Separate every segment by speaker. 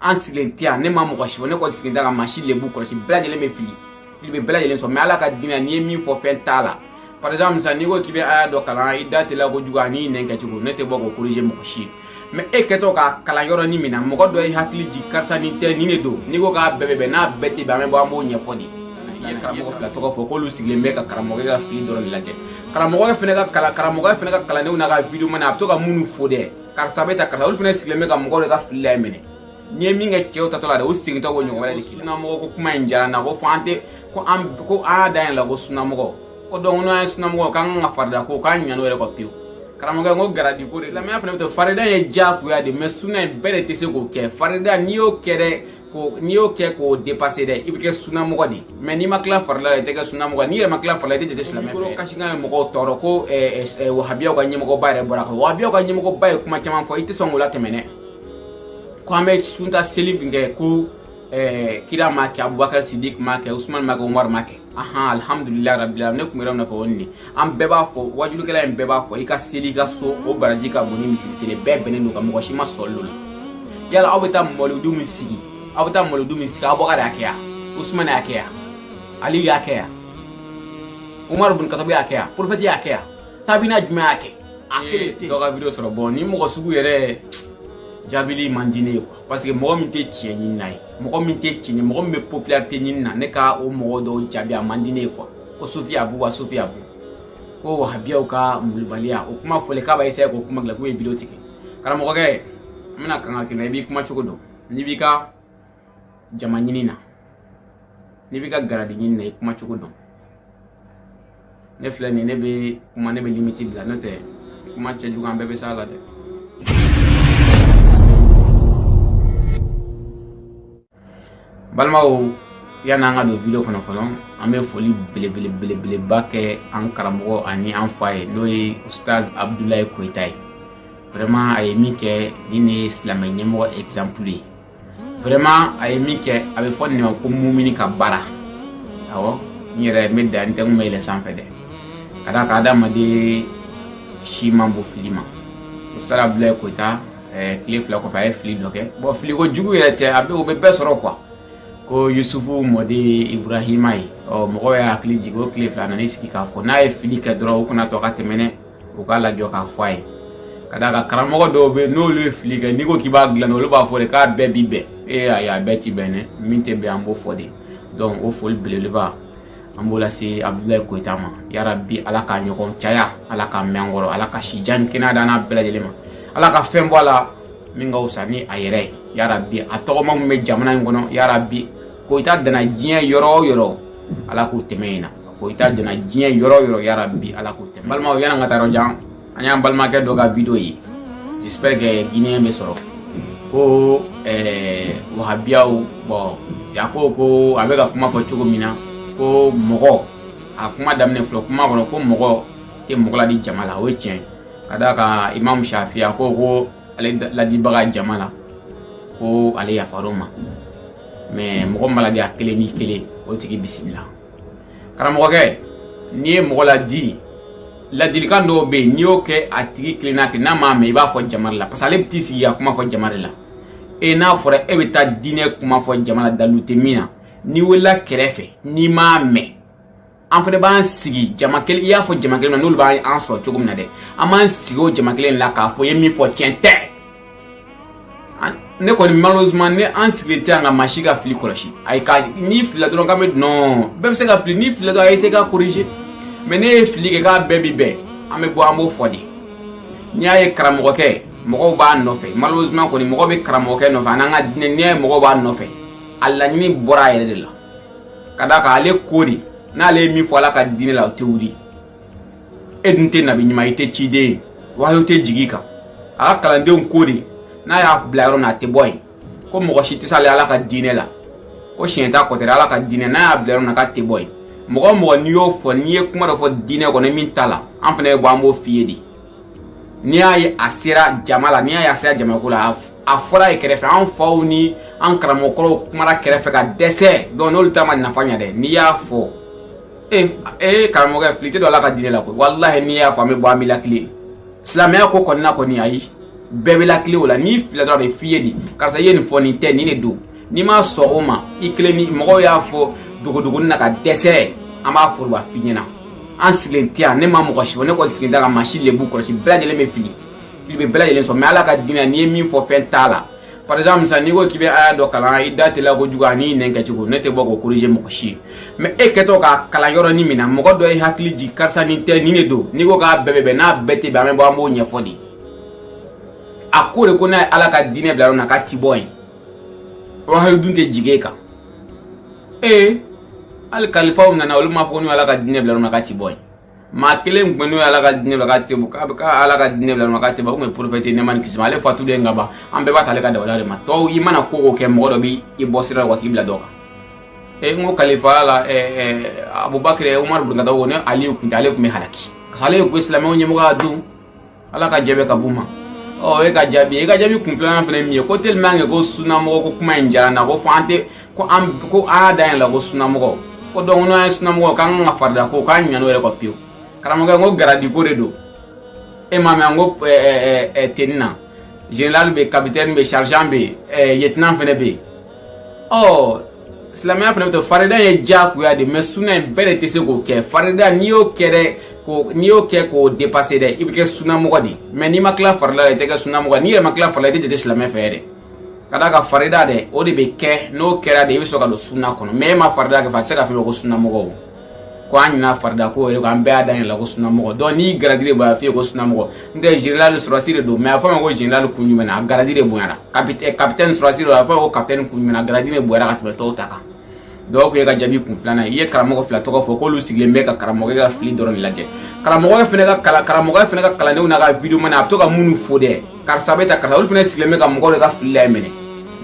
Speaker 1: an sigilen tɛ yan ne ma mɔgɔ si fɔ ne kɔni sigilen tɛ ka maa si lebu kɔlɔsi bɛɛ lajɛlen bɛ fili fili bɛ bɛɛ lajɛlen sɔrɔ mais ala ka diinɛ n'i ye min fɔ fɛn t'a la par exemple sisan n'i ko k'i bɛ aya dɔ kalan i da teliya kojugu ani nɛn kɛcogo ne tɛ bɔ k'o corriger mɔgɔ si ye mais e kɛtɔ ka kalan yɔrɔnin min na mɔgɔ dɔ ye hakili jigin karisa nin tɛ nin de don n'i ko k'a bɛɛ bɛ bɛn n'a bɛɛ tɛ bɛn an bɛ bɔ an b'o ɲɛfɔ de i ye karamɔgɔ fila tɔgɔ fɔ k'olu sigilen bɛ ka karamɔgɔ ka fili dɔrɔn de lajɛ karamɔgɔ fana ka kalan karamɔgɔ fana ka kalandenw n'a ka video banna a bɛ to ka minnu fo dɛ karisa bɛ ta karisa olu fana sigilen bɛ ka mɔgɔw de ka fili la minɛ n'i ye min kɛ cɛw taatɔ la dɛ o segintɔ ko ɲɔgɔn wɛrɛ de k'i la sunamɔgɔ ko kuma in diyara n na ko fɔ an tɛ ko an ko an y'a da yɛlɛ la ko sunamɔgɔ ko donc n'an ye sunamɔgɔ k'an kan ka farida ko k'an ɲan'o yɛrɛ kɔ pewu karamɔgɔkɛ n ko garadi ko de silamɛya fana bɛ to farida ye diyagoya de mais suna in bɛɛ de tɛ se k'o kɛ farida n'i y'o kɛ dɛ ko n'i y'o kɛ k'o dépasser dɛ i bɛ kɛ sunamɔgɔ de mais n'i ma tila farila la i tɛ kɛ sunamɔgɔ n'i yɛrɛ ma tila farila i tɛ jate silamɛ fɛ kasikan ye mɔgɔw tɔɔrɔ ko wahabiyaw ka ɲɛmɔgɔba yɛrɛ bɔra kan wahabiyaw ka ɲɛmɔgɔba ye kuma caman fɔ i tɛ sɔn k'o latɛmɛ dɛ ko an bɛ sunta seli min kɛ ko kira m'a kɛ abubakar sidik m'a kɛ usman m'a kɛ umaru m'a kɛ ahan alihamudulilayi rabila ne tun bɛ yɔrɔ min na fɔ o nin an bɛɛ b'a fɔ wajulikɛla in bɛɛ b'a fɔ i ka seli i ka so o baraji ka bon ni misiri seli bɛɛ bɛnnen don a kan mɔgɔ si ma sɔsɔli k'o la yala aw bɛ taa mawuludu min sigi aw bɛ taa mawuludu min sigi abubakari y'a kɛ yan usumani y'a kɛ yan aliyu y'a kɛ yan umaru bin katabu y'a kɛ yan prophète y'a kɛ yan tabiina jumɛn y'a kɛ a kelen tɛ dɔ ka video sɔrɔ bon nin mɔgɔ sugu yɛrɛ jaabili man di ne ye quoi parce que mɔgɔ min tɛ tiɲɛ ɲini na ye mɔgɔ min tɛ tiɲɛ mɔgɔ min bɛ popularité ɲini na ne ka o mɔgɔ dɔw jaabi a man di ne ye quoi ko sufi abu wa sufi abu ko wahabiyaw ka malobaliya o kuma fɔlen k'a b'a essayer k'o kuma dilan k'u ye video tigɛ karamɔgɔkɛ n bɛna kankari i la i b'i kuma cogo dɔn n'i b'i ka jama ɲini na n'i b'i ka garadi ɲini na i kuma cogo dɔn ne filɛ nin ne bɛ kuma ne bɛ limite bila n'o tɛ kuma cɛjugu an bɛɛ bɛ s'a la dɛ balimaw yanni an ka don video kɔnɔ fɔlɔ an bɛ foli belebelebelebeleba kɛ an karamɔgɔ ani an fa ye n'o ye ustaz abudulayi koyita ye vraiment a ye min kɛ nin de ye silamɛ ɲɛmɔgɔ exemple ye vraiment a ye min kɛ a bɛ fɔ nin ma ko mumini ka baara awɔ n yɛrɛ n bɛ da n tɛ n kun bɛ yɛlɛn sanfɛ dɛ ka d'a kan adamaden si man bon fili ma ustaz abudulayi koyita eh, tile fila kɔfɛ a ye fili dɔ kɛ bon filiko jugu yɛrɛ tɛ a bɛ o bɛ bɛɛ sɔrɔ quoi ko yusufu mɔden iburahima ye ɔ mɔgɔw y'a hakili jigin o tile fila a nana i sigi k'a fɔ n'a ye fili kɛ dɔrɔn u kana to ka tɛmɛ dɛ u k'a lajɔ k'a fɔ a ye ka d'a kan karamɔgɔ dɔw bɛ n'olu ye fili kɛ n'i ko k'i b'a dilan olu b'a fɔ de k'a bɛɛ bi bɛn ee ayi a bɛɛ ti bɛn dɛ min tɛ bɛn an b'o fɔ de donc o foli belebeleba an b'o lase abudulayi koyita ma yarabi ala ka ɲɔgɔn caya ala ka mɛn an kɔrɔ ala ka si jan kɛnɛya d'a n'an bɛɛ lajɛlen ma ala ka fɛn bɔ a la min ka fisa ni a yɛrɛ ye yarabi a tɔgɔma min bɛ jamana in kɔnɔ yarabi koyita dana diɲɛ yɔrɔ o yɔrɔ ala k'u tɛmɛ in na koyita dana diɲɛ yɔrɔ o yɔrɔ yarabi ala k'o tɛmɛ balimaw yan'an ka taa yɔrɔ jan an y'an balimakɛ dɔ ka vidéo ye j'espère que guinéen bɛ sɔrɔ ko wahabiyaw bɔn ja ko ko a bɛ ka kuma fɔ cogo min na ko mɔgɔ a kuma daminɛ filɛ kuma kɔnɔ ko mɔgɔ tɛ mɔgɔ ladi jama la o ye tiɲɛ ka d'a kan imamu shafi'i ko ko ale ladibaga jama la ko ale yafar'o ma mais mɔgɔ m'a ladi a kelen ni kelen o tigi bisimila karamɔgɔkɛ n'i ye mɔgɔ ladi ladilikan dɔw bɛ yen n'i y'o kɛ a tigi kelen na kɛ n'a m'a mɛn i b'a fɔ jama la parce que ale bɛ t'i sigi ka kuma fɔ jama de la e n'a fɔra e bɛ taa diinɛ kuma fɔ jama la dalu tɛ min na n'i welela kɛrɛfɛ n'i m'a mɛn an fana b'an sigi jama kelen i y'a fɔ jama kelen na n'olu b'an sɔrɔ cogo min na dɛ an b'an sigi o jama kelen la k'a fɔ i ye min fɔ tiɲɛ tɛ ne kɔni malheureusement ne an sigilen tɛ yan ka maa si ka fili kɔlɔsi ayi ka n'i filila dɔrɔn k'an bɛ non bɛɛ bɛ se ka fili n'i filila dɔrɔn a ye se ka corriger mais n'e ye fili kɛ k'a bɛɛ bi bɛn an bɛ bɔ an b'o fɔ de n'i y'a ye karamɔgɔkɛ mɔgɔw b'a nɔfɛ malheureusement kɔni mɔgɔ bɛ karamɔgɔkɛ nɔfɛ an'an ka diinɛ n'i y'a ye mɔgɔw b'a nɔfɛ a laɲini bɔra a yɛrɛ de la ka d'a kan ale ko de n'ale ye min fɔ ala ka diinɛ la o tɛ wuli e dun tɛ nabi ɲuman i tɛ ciden ye wahyu tɛ jigin i kan a ka kalandenw ko de n'a y'a bila yɔrɔ min a tɛ bɔ yen ko mɔgɔ si tɛ s'ale ala ka diinɛ la ko siɲɛ t'a kɔtɛrɛ ala ka diinɛ n'a y'a bila yɔrɔ min na k'a tɛ bɔ yen mɔgɔ o mɔgɔ n'i y'o fɔ n'i ye kuma dɔ fɔ diinɛ kɔnɔ min t'a la an fana bɛ bɔ an b'o f'i ye de n'i y'a ye a sera jama la n'i y'a ye a sera jamako la a fɔra ye kɛrɛfɛ an faw ni an karamɔgɔkɔrɔw kumara kɛrɛfɛ ka dɛsɛ donc n'olu ta ma nafa ɲɛ dɛ n'i y'a fɔ ee ee karamɔgɔkɛ fili tɛ don ala ka diinɛ la koyi walahi n'i y'a fɔ an bɛ bɔ an b'i latilen silamɛya ko kɔnɔna kɔni ayi bɛɛ bɛ latilen o la n'i filila dɔrɔn a bɛ f'i ye de karisa i ye nin fɔ nin tɛ nin de don n'i ma sɔn o ma i kelen ni mɔgɔw y'a fɔ dogodogoni na ka dɛsɛ an b'a foroba f'i ɲɛna an sigilen tɛ yan ne ma mɔgɔ si fɔ ne kɔni sigilen tɛ ka maa si lebu kɔlɔsi bɛɛ lajɛlen bɛ fili fili bɛ bɛɛ lajɛlen sɔrɔ mais ala ka diinɛ n'i ye min fɔ fɛn t'a la par exemple sisan n'i ko k'i bɛ aya dɔ kalan i da teliya kojugu an'i nɛn kɛcogo ne tɛ bɔ k'o corriger mɔgɔ si ye mais e kɛtɔ k'a kalan yɔrɔnin min na mɔgɔ dɔ y'i hakili jigin karisa nin tɛ nin de don n'i ko k'a bɛɛ bɛ bɛn n'a bɛɛ tɛ bɛn an bɛ bɔ an b'o ɲɛfɔ de a ko de ko n'a ye ala ka diinɛ bila yɔrɔ min na k'a ti bɔ yen wahyu dun tɛ jigin e kan ee hali kalifaw nana olu m'a fɔ ko n'u ala ka diinɛ bila yɔrɔ min na k'a ti bɔ yen maa kelen tun bɛ n'o ye ala ka diinɛ la k'a tɛ bɔ k'a bɛ k'a ala ka diinɛ bila ma k'a tɛ bɔ o tun ye porofɛti nɛɛma ni kisi ma ale fatulen ka ban an bɛɛ b'a ta ale ka dawada de ma tɔw i mana ko o ko kɛ mɔgɔ dɔ b'i bɔ sira la wa k'i bila dɔ kan e n ko kalifaya la abubakar umaru bun katabu ko ni aliyu kun tɛ ale tun bɛ halaki parce que ale ye ko silamɛw ɲɛmɔgɔya dun ala ka jɛ bɛ ka b'u ma ɔ e ka jaabi e ka jaabi kun filanan fana ye min ye ko tellement que ko sunamɔgɔ ko kuma in diyara n na ko fɔ an tɛ ko an ko an y'a da yɛlɛ ko sunamɔgɔ ko donc n'an ye sunamɔgɔ k'an ka farida ko k'an ɲinan'o yɛrɛ kɔ pewu karamɔgɔkɛ n ko garadiko de don e ma mɛn n ko tenue na général bɛ yen capitaine bɛ yen sergent bɛ yen lieutenant fana bɛ yen ɔ silamɛya fana bɛ ten farida ye diyagoya de mais suna in bɛɛ de tɛ se k'o kɛ farida n'i y'o kɛ dɛ ko n'i y'o kɛ k'o dépasser dɛ i bɛ kɛ sunamɔgɔ de mais n'i ma tila farida la i tɛ kɛ sunamɔgɔ n'i yɛrɛ ma tila farida la i tɛ jate silamɛ fɛ dɛ ka d'a kan farida dɛ o de bɛ kɛ n'o kɛra de i bɛ sɔrɔ ka don suna kɔnɔ mais e ma farida kɛ fa a tɛ se ka fɛn fɔ ko sunamɔgɔ ko an ɲina farida kɔ yɛrɛ an bɛɛ y'a da yɛlɛ ko sunamɔgɔ donc n'i garadi de bonyana f'i ye ko sunamɔgɔ n tɛ général sɔrɔsi de don mais a fɔ ma ko général kun jumɛn na a garadi de bonyana capitaine sɔrɔsi don a fɔ ko capitaine kun jumɛn na a garadi de bonyana ka tɛmɛ tɔw ta kan donc o y'e ka jaabi kun filanan ye i ye karamɔgɔ fila tɔgɔ fɔ k'olu sigilen bɛ ka karamɔgɔ ka fili dɔrɔn de lajɛ karamɔgɔ fɛnɛ ka kalan karamɔgɔ fɛnɛ ka kalandenw n'a ka video mana a bɛ to ka minnu fo dɛ karisa bɛ ta karisa olu fɛnɛ sigilen bɛ ka mɔgɔw de ka fili laminɛ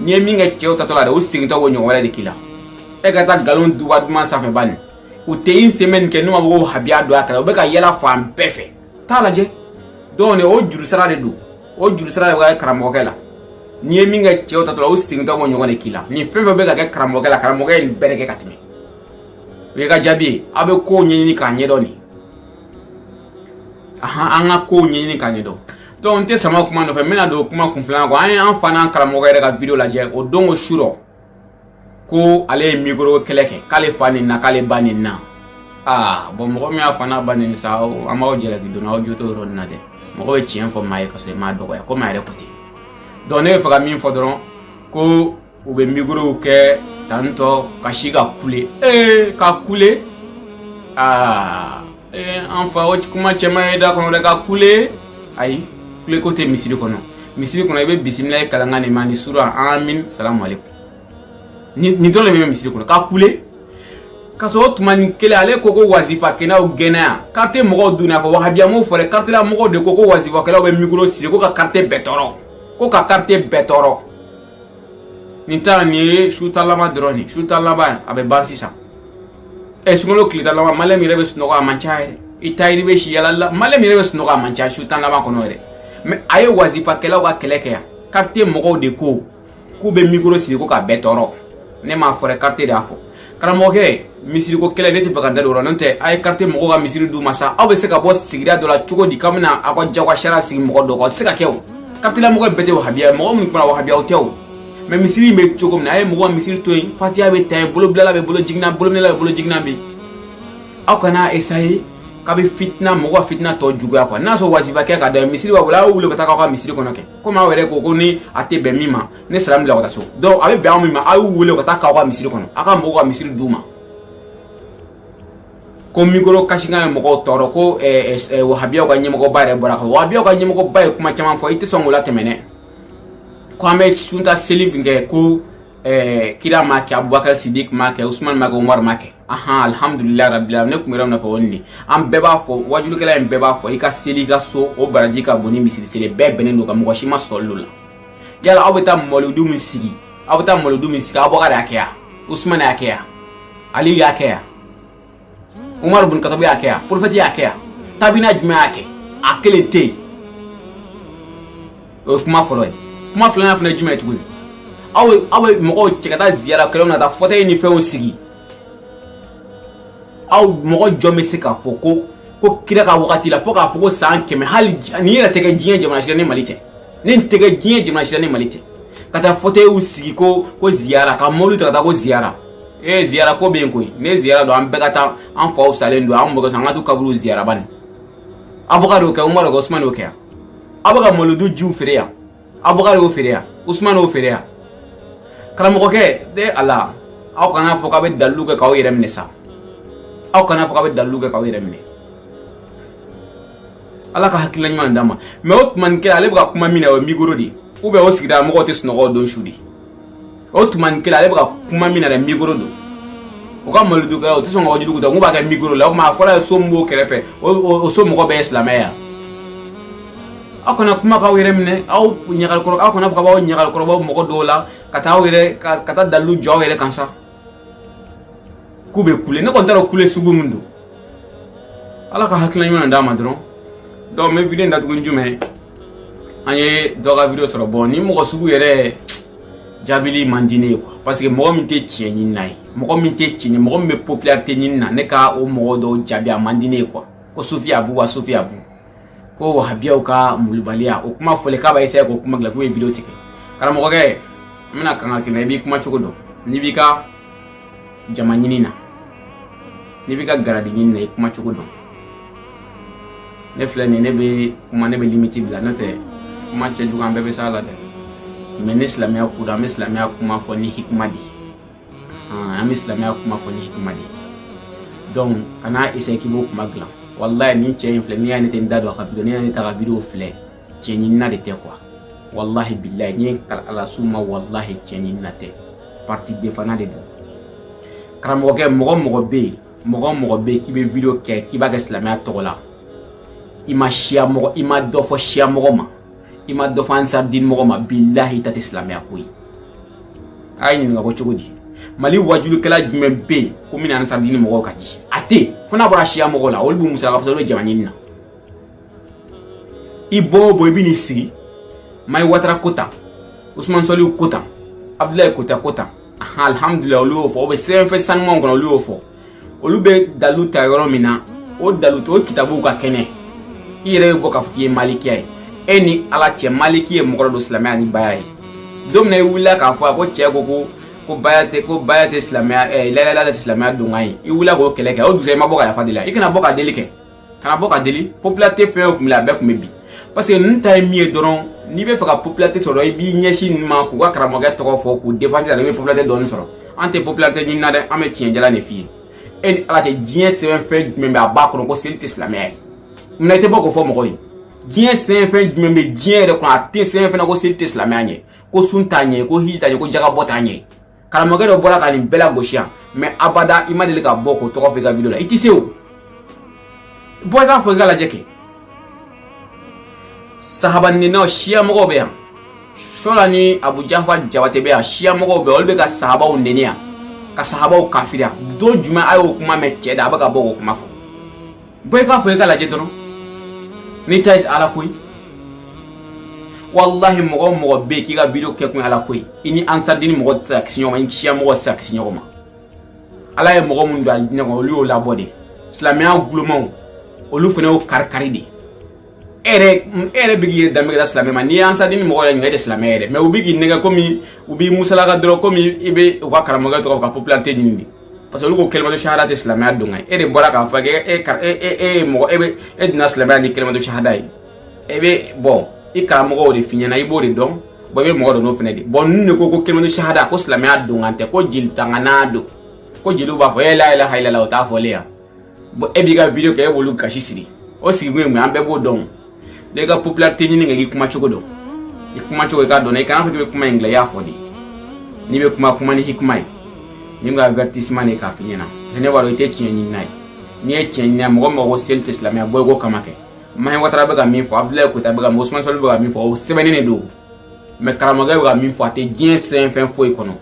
Speaker 1: n'i ye min kɛ cɛw taatɔ la dɛ u segintɔ k'o ɲɔgɔn wɛrɛ de k'i la e ka taa nkalon duba duman sanfɛ bani u tɛ une semaine kɛ n'u ma fɔ ko wahabiya don a kala u bɛ ka yɛlɛ fan bɛɛ fɛ t'a lajɛ donc o juru sara de don o juru sara de bɛ kɛ karamɔgɔkɛ la n'i ye min kɛ cɛw taatɔ la u segintɔ b'o ɲɔgɔn de k'i la ni fɛn fɛn bɛ ka kɛ karamɔgɔkɛ la karamɔgɔkɛ ye nin bɛɛ de kɛ ka tɛmɛ o ye ka jaabi ye aw bɛ kow ɲɛɲini k'a ɲɛdɔn de ahan an ka kow ɲɛɲini k'a ɲɛdɔn donc n tɛ sama kuma nɔfɛ n bɛna don kuma kun filanan kɔ an ye an fa n'an karamɔgɔ yɛrɛ ka video lajɛ o don ko su rɔ ko ale ye mikoro kɛlɛ kɛ k'ale fa nenina k'ale ba nenina aa bon mɔgɔ min y'a fa n'a ba neni sa an b'aw jalaki donc aw jo t'o yɔrɔ nin na dɛ mɔgɔ bɛ tiɲɛ fɔ maa ye ka sɔrɔ i m'a dɔgɔya komi a yɛrɛ ko ten donc ne bɛ fɛ ka min fɔ dɔrɔn ko u bɛ mikorow kɛ tantɔ ka si ka kule ee ka kule aa ee an fa o kuma cɛ man ɲi i da kɔnɔ dɛ ka kule ayi kuleko tɛ misiri kɔnɔ misiri kɔnɔ i bɛ bisimilayi kalankan de mɛn ni sura amin salamu aleykum nin dɔrɔn de bɛ misiri kɔnɔ ka kule ka sɔrɔ o tuma nin kelen ale ko ko wasifakɛlaw gɛnna yan quartier mɔgɔw donna ko wahabiyaw m'o fɔ dɛ quartier la mɔgɔw de ko ko wasifakɛlaw bɛ mikoro siri ko ka quartier bɛɛ tɔɔrɔ ko ka quartier bɛɛ tɔɔrɔ nin ta nin ye su tan laban dɔrɔn de su tan laban a bɛ ban sisan ɛ eh, sunkalo tile tan laban maliyɛn yɛrɛ bɛ sunɔgɔ a man ca yɛrɛ i tayiri bɛ si yala la maliyɛn yɛrɛ bɛ sunɔgɔ a man ca su tan laban kɔnɔ yɛrɛ mɛ a ye wazifakɛlaw ka kɛlɛ kɛ yan kartiye mɔgɔw de ko k'u bɛ mikoro sigi ko ka bɛɛ tɔɔrɔ ne m'a fɔ dɛ kartiye de y'a fɔ karamɔgɔkɛ misiriko kɛlɛ ne tɛ fɛ ka da don o la n'o tɛ a ye kartiye mɔgɔw ka misiri d'u ma sa aw bɛ se ka bɔ sigida dɔ la cogo di k'aw bɛna aw ka jagoya sariya sigi mɔgɔ dɔ kan o tɛ se ka kɛ o kartiye la mɔgɔ bɛɛ tɛ wahabiya ye mɔgɔ minnu kumana wahabiyaw tɛ o mɛ misiri in bɛ cogo min na a ye mɔgɔ misiri to yen fatiya bɛ ta yen bolobilala bɛ bolo jiginna bolominɛla bɛ bolo jiginna bɛ yen aw kana esaye k'aw bɛ fitina mɔgɔ ka fitina tɔ juguya quoi n'a sɔrɔ wazifa kɛ ka da misiri b'aw bolo a y'u wele ka taa k'aw ka misiri kɔnɔ kɛ komi aw yɛrɛ ko ko ni a tɛ bɛn min ma ne salamu bila ka taa so donc a bɛ bɛn aw min ma aw y'u wele ka taa k'aw ka misiri kɔnɔ aw ka mɔgɔw ka misiri d'u ma ko mikoro kasikan ye mɔgɔw tɔɔrɔ ko wahabiyaw ka ɲɛmɔgɔba yɛrɛ bɔra kan wahabiyaw ka ɲɛmɔgɔba ye kuma caman fɔ i tɛ sɔn k'o latɛmɛ dɛ K'an bɛ su tan seli min kɛ ko kira m'a kɛ Abubakari Sidiki m'a kɛ Usumani m'a kɛ Umaru m'a kɛ alihamdulilayi rabil alamin ne tun yɛrɛ fɔ nin an bɛɛ b'a fɔ wajulikɛla in bɛɛ b'a fɔ i ka seli i ka so o baraji ka bon ni misiri seli bɛɛ bɛnnen don a kan mɔgɔ si ma sɔsɔ o la yala aw bɛ taa mɔlidu min sigi Abubakari y'a kɛ yan Usumani y'a kɛ yan Ali y'a kɛ yan Umaru bin Katabu y'a kɛ yan porofɛti y'a kɛ yan tabina jumɛn y'a kɛ a kelen tɛ yen o ye kuma fɔlɔ ye kuma filanan fana ye jumɛn ye tuguni aw bɛ mɔgɔw cɛ ka taa ziyara kɛnɛw na ka taa fɔtɛyi ni fɛnw sigi aw mɔgɔ jɔn bɛ se k'a fɔ ko kira ka wagati la fo k'a fɔ ko san kɛmɛ hali nin yɛrɛ tɛ kɛ diɲɛ jamana si la ni mali tɛ nin tɛ kɛ diɲɛ jamana si la ni mali tɛ ka taa fɔtɛyiw sigi ko ziyara ka mɔbili ta ka taa ko ziyara ee ziyara ko bɛ yen koyi ni ziyara don an bɛɛ ka taa an faw salen don an mɔkɛ an ka t'u kaburu ziyara bani Abubakari y'o kɛ Umaru y'o kɛ usumani y'o kɛ yan aw bɛ ka mɔlidu jiw feere yan Abubakari y'o feere yan usumani y'o feere yan karamɔgɔkɛ de ala aw kana fɔ k'aw bɛ dalilu kɛ k'aw yɛrɛ minɛ sa aw kana fɔ k'aw bɛ dalilu kɛ k'aw yɛrɛ minɛ ala ka hakilina ɲuman d'an ma mɛ o tuma nin kɛla ale bɛ ka kuma min na o ye mikoro de ye ou bien o sigida mɔgɔw tɛ sunɔgɔ don su de o tuma nin kɛla ale bɛ ka kuma min na dɛ mikoro don u ka malidu kɛla u tɛ sɔn ka wajuliw ta k'u b'a kɛ mikoro la o tuma a fɔ an ye so min b'o kɛrɛfɛ o so mɔgɔ bɛɛ ye silamɛ ye wa aw kana kuma k'aw yɛrɛ minɛ aw ɲagalikɔrɔ aw kana fɔ k'aw ɲagalikɔrɔ bɔ mɔgɔ dɔw la ka taa aw yɛrɛ ka taa dalilu jɔ aw yɛrɛ kan sa k'u bɛ kule ne kɔni t'a dɔn kule sugu min don ala ka hakilina ɲuman d'an ma dɔrɔn donc n bɛ video in datugu ni jumɛn ye an ye dɔ ka video sɔrɔ bon nin mɔgɔ sugu yɛrɛ jaabili man di ne ye quoi parce que mɔgɔ min tɛ tiɲɛ ɲini na ye mɔgɔ min tɛ tiɲɛ mɔgɔ min bɛ popularité ɲini na ne ka o mɔgɔ dɔw jaabi a man di ne ye quoi ko sufi abu wa sufi abu ko wahabiyaw ka malobaliya o kuma fɔlen k'a b'a essayer k'o kuma dilan k'u ye video tigɛ karamɔgɔkɛ n bɛna kankari i la i b'i kuma cogo dɔn n'i b'i ka jama ɲini na n'i b'i ka garadi ɲini na i kuma cogo dɔn ne filɛ nin ne bɛ kuma ne bɛ limiti bila n'o tɛ kuma cɛjugu an bɛɛ bɛ s'a la dɛ mais ni silamɛya ko don an bɛ silamɛya kuma fɔ ni hikima de ye an bɛ silamɛya kuma fɔ ni hikima de donc kana essayer k'i b'o kuma dilan wallahi nin cɛ in filɛ n'i y'a ne tɛ n da don a ka video n'i y'a ne ta ka video filɛ tiɲɛ ɲinina de tɛ quoi wallahi billahi n ye kali ala summa wallahi tiɲɛ ɲinina tɛ parti defana de don karamɔgɔkɛ mɔgɔ o mɔgɔ bɛ yen mɔgɔ o mɔgɔ bɛ yen k'i bɛ video kɛ k'i b'a kɛ silamɛya tɔgɔ la i ma siya mɔgɔ i ma dɔ fɔ siya mɔgɔ ma i ma dɔ fɔ ansardini mɔgɔ ma bilahi i ta tɛ silamɛya ko ye a ye ɲininka ko cogo di mali wajulikɛla jumɛn bɛ yen ko min ni ansardini mɔgɔw ka di a tɛ fo n'a bɔra siya mɔgɔ la olu b'u musalaka parce que olu bɛ jama ɲini na i bɔ o bɔ i bɛ n'i sigi mahi watara ko tan usumani sɔlihu ko tan abudulayi koyita ko tan alhamdulilayi olu y'o fɔ o bɛ sɛbɛnfɛn sanumanw kɔnɔ olu y'o fɔ olu bɛ dalu ta yɔrɔ min na o dalu o kitabuw ka kɛnɛ i yɛrɛ bɛ bɔ k'a fɔ k'i ye malikiya ye e ni ala cɛ maliki ye mɔgɔ dɔ don silamɛya ni baya ye don min na i wulila k'a fɔ a ko cɛ ko ko ko baya tɛ ko baya tɛ silamɛya ɛɛ la ilaha ilala tɛ silamɛya donkan ye i wulila k'o kɛlɛ kɛ o dugusɛ i ma bɔ ka yafa deli la i kana bɔ ka deli kɛ kana bɔ ka deli popularité fɛn o kun bɛ a bɛɛ kun bɛ bi parce que ninnu ta ye min ye dɔrɔn n'i b'a fɛ ka popularité sɔrɔ i b'i ɲɛsin ninnu ma k'u ka karamɔgɔkɛ tɔgɔ fɔ k'u défense la i bɛ popularité dɔɔni sɔrɔ an tɛ popularité ɲini na dɛ an bɛ tiɲɛ jalan de f'i ye e ni ala cɛ diɲɛ sɛbɛnfɛn jumɛn bɛ a b'a kɔnɔ ko seli tɛ silamɛya ye munna i tɛ bɔ k'o fɔ mɔgɔ ye diɲɛ sɛbɛnfɛn jumɛn bɛ diɲɛ yɛrɛ kɔnɔ a tɛ sɛbɛnfɛn na ko seli tɛ silamɛya ɲɛ ko sun t'a ɲɛ ko hiji t'a ɲɛ ko jakabɔ t'a ɲɛ karamɔgɔkɛ dɔ bɔra ka nin bɛɛ lagosi yan mais abada i ma deli ka bɔ k'o tɔgɔ fɔ i ka video la i tɛ se o bɔ i k'a fɔ i ka lajɛ kɛ sahaba neninaw siya mɔgɔw bɛ yan suwala ni abu jafar jabate bɛ yan siya mɔgɔw bɛ yan olu bɛ ka sahabaw neni yan ka sahabaw kafiriya don jumɛn a y'o kuma mɛn cɛ da a bɛ ka bɔ k'o kuma fɔ bɔ i k'a fɔ i ka lajɛ dɔrɔn n'i ta ye ala ko ye walahi mɔgɔ o mɔgɔ bɛ yen k'i ka video kɛ kun ye ala ko ye i ni ansardini mɔgɔ tɛ se ka kisi ɲɔgɔn ma i ni siya mɔgɔ tɛ se ka kisi ɲɔgɔn ma ala ye mɔgɔ minnu don a diinɛ kɔnɔ olu y'o labɔ de silamɛya kolomaw olu fana y'o kari kari de e yɛrɛ e yɛrɛ bɛ k'i yɛrɛ danbe kɛra silamɛ ma n'i ye ansardini mɔgɔ yɛrɛ ɲininka e tɛ silamɛ yɛrɛ mais u bɛ k'i nɛgɛ komi u b'i musalaka dɔrɔn komi i bɛ u ka karamɔgɔkɛ tɔgɔ ka popularité ɲini de parce que olu ko kelimatu shahada tɛ silamɛya donkan ye e de bɔra k'a fɔ k'e e e e ye mɔgɔ e bɛ e donna silamɛya ni kelimatu shahada ye e bɛ bon i karamɔgɔw de f'i ɲɛna i b'o de dɔn bon i bɛ mɔgɔ don n'o fana de bon ninnu de ko ko kelimatu shahada ko silamɛya donkan tɛ ko jeli tanganan don ko jeliw b'a fɔ e la ilaha ilala o t'a fɔlen yan bon e b'i ka video kɛ e b'olu gasi sigi o sigikun ye mun ye an bɛɛ b'o dɔn n'i ka popularité ɲini kɛ k'i kuma cogo dɔn i kuma cogo i k'a dɔn i kana fɔ k'i bɛ kuma in dilan i y'a fɔ de n'i bɛ kuma kuma ni hikima ye ne ka avertissement de k'a f'i ɲɛna parce que ne b'a dɔn i tɛ tiɲɛ ɲinina ye n'i ye tiɲɛ ɲinina mɔgɔ mɔgɔ ko seli tɛ silamɛya bɔ i k'o kama kɛ mahi watara bɛ ka min fɔ abudulayi koyita bɛ ka min fɔ usumani sɔli bɛ ka min fɔ o sɛbɛnnen de don mais karamɔgɔkɛ bɛ ka min fɔ a tɛ diɲɛ sɛbɛnfɛn foyi kɔnɔ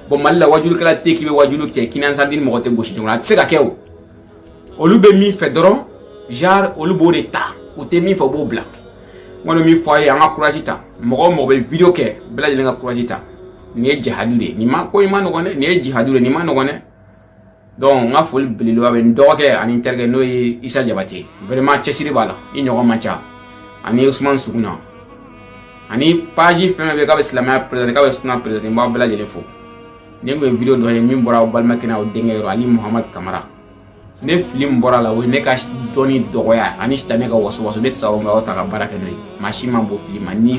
Speaker 1: bon mali la wajulikɛla tɛ k'i bɛ wajulu kɛ k'i ni ansardini mɔgɔ tɛ gosi ɲɔgɔn na a tɛ se ka kɛ o olu bɛ min fɛ dɔrɔn genre olu b'o de ta u tɛ min fɛ u b'o bila n kɔni min fɔ a ye an ka courage ta mɔgɔ o mɔgɔ bɛ video kɛ bɛɛ lajɛlen ka courage ta nin ye jihadi de ye nin ma ko in ma nɔgɔn dɛ nin ye jihadi de ye nin ma nɔgɔn dɛ donc n ka foli belebeleba bɛ n dɔgɔkɛ ani n terikɛ n'o ye isa jabate vraiment cɛsiri b'a la i ɲɔgɔn man ca ani usman suguna ani page fɛn fɛn bɛ k'a bɛ silamɛya présenter k'a bɛ suna présenter n b'aw bɛɛ lajɛlen fo nin tun ye video dɔ ye min bɔra aw balimakɛ n'aw denkɛ yɔrɔ ali muhamad kamara ni fili min bɔr'a la o ye ne ka dɔnni dɔgɔya ani sitanɛ ka wasuwasu ne sago ma aw ta ka baara kɛ n'o ye maa si ma bɔ fili ma ni